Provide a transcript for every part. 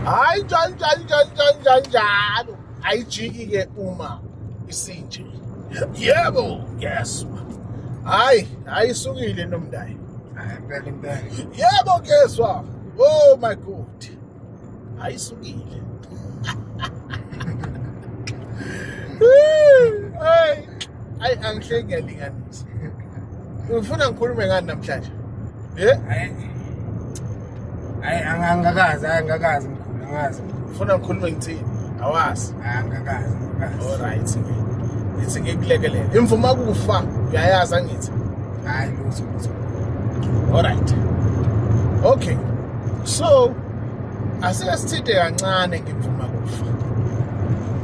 hayi njani njani njani njani njani njalo ayijiki-ke uma isinje yebo ngiyezwa hayi hayi isukile nomndayi yebo ngiyezwa oh my god hayi isukile hayi angihle ngiyalinganisa Ufuna ngikhulume ngani namhlanje? Eh? Hayi angangakazi, angangakazi mkhulu, angazi. Ufuna ngikhulume ngithini? Awazi. Angangakazi. All right. Ngithi ngikulekelele. Imvuma kufa, uyayazi angithi. Hayi lutho lutho. All right. Okay. So asike sithinte kancane ngimvuma kufa.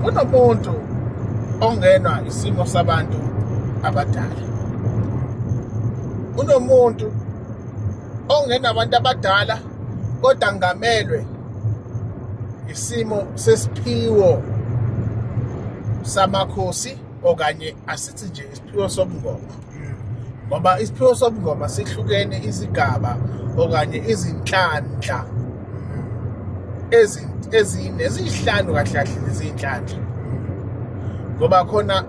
Kunomuntu ongenwa isimo sabantu abadala. kunomuntu ongenabantu abadala kodwa ngamelwe isimo sesiphiwo samakhosi okanye asithi nje isiphiwo sobungoma ngoba isiphiwo sobungoma sihlukene izigaba okanye izinhlanhla ezine eziyihlanu kahle kahle nezinhlanhla ngoba khona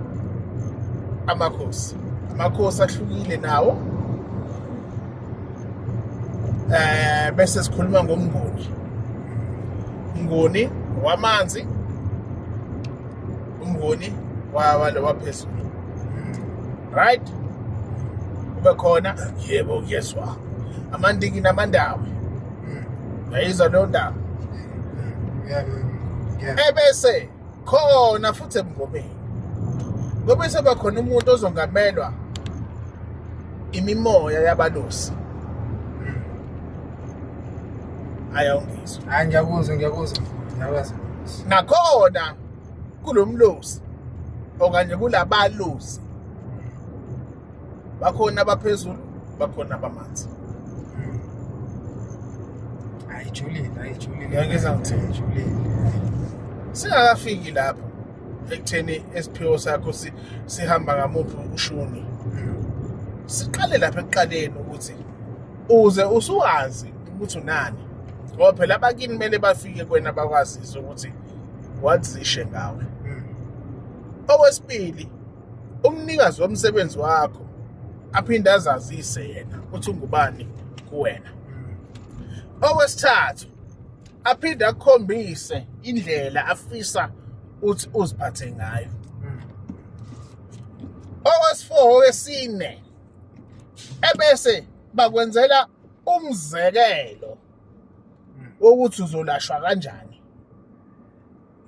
amakhosi amakhosi ahlukile nawo eh bese sikhuluma ngomnguni umnguni wamanzi umnguni wawalo waphezulu right kube khona yebo kuyezwa amandiki namandawo yayizwa leyo ndaba ebese khona futhi ebungomeni ngoba eseba khona umuntu ozongamelwa imimoya yabalusi ayawungizwa hayi ngiyakuzwa ngiyakuzwa ngiyakwazi nakhona kulo mlosi okanye kulabalusi bakhona abaphezulu bakhona abamanzi ayijulile ayijulile Ngeke sangithini. ayijulile singakafiki lapho ekutheni esiphiwo sakho si- sihamba ngamuphi ushuni siqale lapha ekuqaleni ukuthi uze usuwazi ukuthi unani ngoba phela abakini kumele bafike kwena bakwazise ukuthi wazishe ngawe okwesibili umnikazi womsebenzi wakho aphinde azazise yena ukuthi ungubani kuwena okwesithathu aphinde akhombise indlela afisa uthi uziphathe ngayo owesifour owesine ebese bakwenzela umzekelo wokuthi uzolashwa kanjani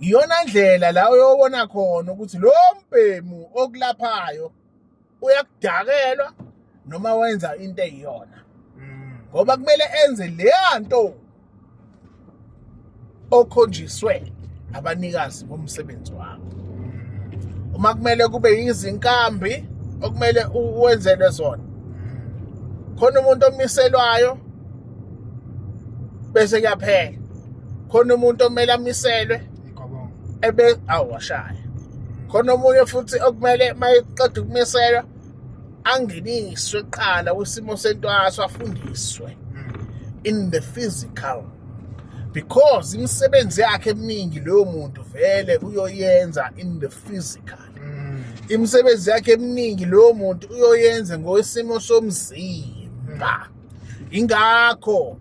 iyona ndlela la uyobona khona ukuthi lo mbhemu okulaphayo uyakudakelwa noma wenza into eyiyona mm. ngoba kumele enze leya nto okhonjiswe abanikazi bomsebenzi wakho mm. uma kumele kube yizinkambi okumele uwenzelwe zona mm. khona umuntu omiselwayo bese kuyaphela khona umuntu omele amiselwe ebe awashaya khona omunye futhi okumele mayeqeda ukumiselwa angeniswe kuqala kwisimo sentwaso afundiswe hmm. in the physical because imisebenzi yakhe eminingi leyo muntu vele uyoyenza in the physical hmm. imisebenzi yakhe eminingi leyo muntu uyoyenza ngokwesimo somzimba hmm. ingakho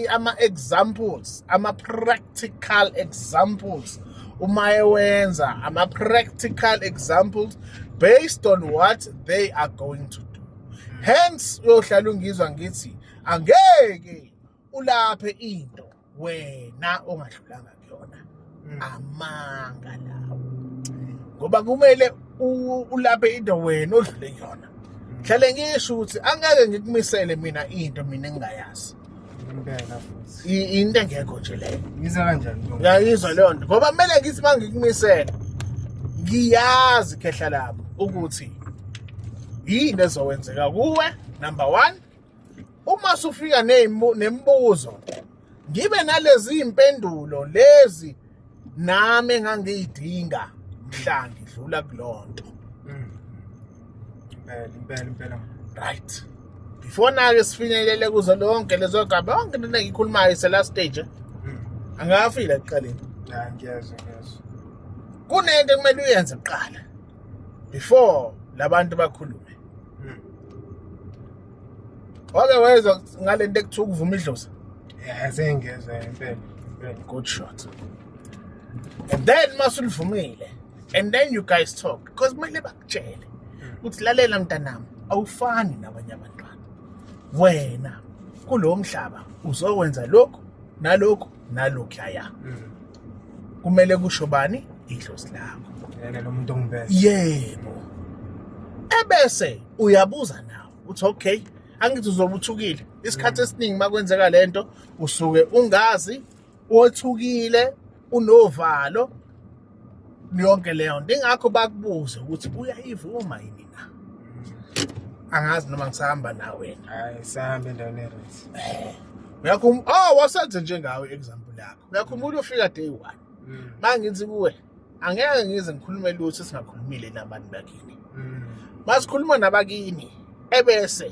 ama-examples ama-practical examples uma ewenza ama-practical examples based on what they are going to do hence uyohlala ungizwa ngithi angeke ulaphe into wena ongadlulanga kuyona mm. amanga lawo ngoba kumele ulaphe into wena odlule kuyona mm. hlale ngisho ukuthi angeke ngikumisele mina into mina engingayazi impela futhi into engekho nje leyo yiza kanjani ngiyayizwa leyo nto ngoba kumele ngithi uma ngikumisele ngiyazi khehla lami ukuthi yini ezokwenzeka kuwe number one uma sufika nemibuzo ngibe nalezi impendulo lezi nami engangiyidinga mhla ngidlula kulonto mm. impela impela impela right before nake sifinyelele kuzo lonke lezo gaba yonke into engiyikhulumayo ise last stage mm. angafile ekuqaleni ngiyezwa ngiyezwa kunento ekumele uyenze kuqala before labantu bakhulume hmm. wake wezwa ngalento ekuthiwa ukuvuma idlozi yeah sengiyezwa impela good shot and then masulivumile and then you guys talk because kumele bakutshele hmm. ukuthi lalela mntanami awufani nabanye abantwana wena kulo mhlaba uzowenza lokhu nalokhu nalokhu yaya mm. kumele kusho bani idlozi lakho yena lo muntu ongibese yebo ebese uyabuza nawe uthi okay angithi uzobe uthukile isikhathi esiningi makwenzeka lento usuke ungazi othukile unovalo yonke leyo nto ingakho bakubuze ukuthi uyayivuma yini na angazi noma ngisahamba nawe hayi sahambe endaweni erit uyakho oh wasenze njengawe example yakho Uyakhumbula ufika day one. Mm. Mangithi kuwe angeke ngize ngikhulume lutho singakhulumile nabantu bakini. Mm. Masikhuluma nabakini ebese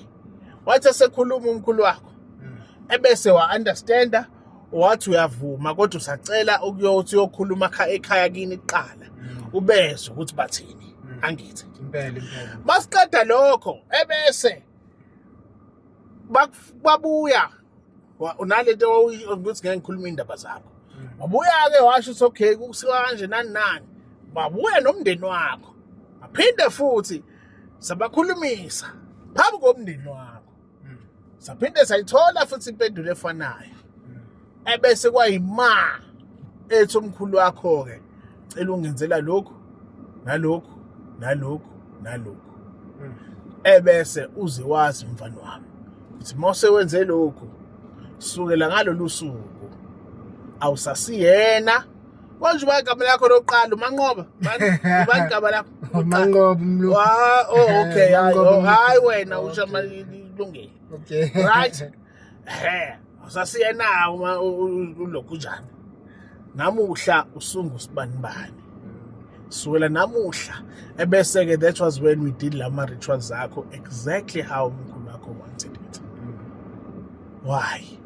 wathi esekhuluma umkhulu wakho mm. ebese wa understanda wathi uyavuma kodwa usacela ukuyothi uyokhuluma ekhaya kini kuqala ubezwe ukuthi bathini angithi impela impela masiqeda lokho ebese babuya Wa- unale nto wawuyi- ukuthi ngeke ngikhulume iy'ndaba zakho wabuya-ke washo ukuthi okay kusiwa kanje nani nani wabuya nomndeni wakho aphinde futhi sabakhulumisa phambi komndeni wakho saphinde sayithola futhi impendulo efanayo ebese kwayima ethi umkhulu wakho-ke cela ungenzela lokhu nalokhu nalokhu nalokhu hmm. ebese uze wazi mfana wami ukuthi mose wenze lokhu sukela ngalolu suku awusasiyena konje uba igama lakho lokuqala umanqoba uba igama lakho umanqoba umlu ah, oh okay hayi oh, wena usha malilungile okay right he usasiye na uma ulokhu njani namuhla usungu sibanibani suwela namuhla ebese-ke that was when we did la ma-rituals akho exactly how umkhulu wakho wanted it why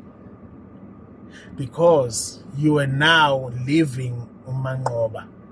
because you are now living umanqoba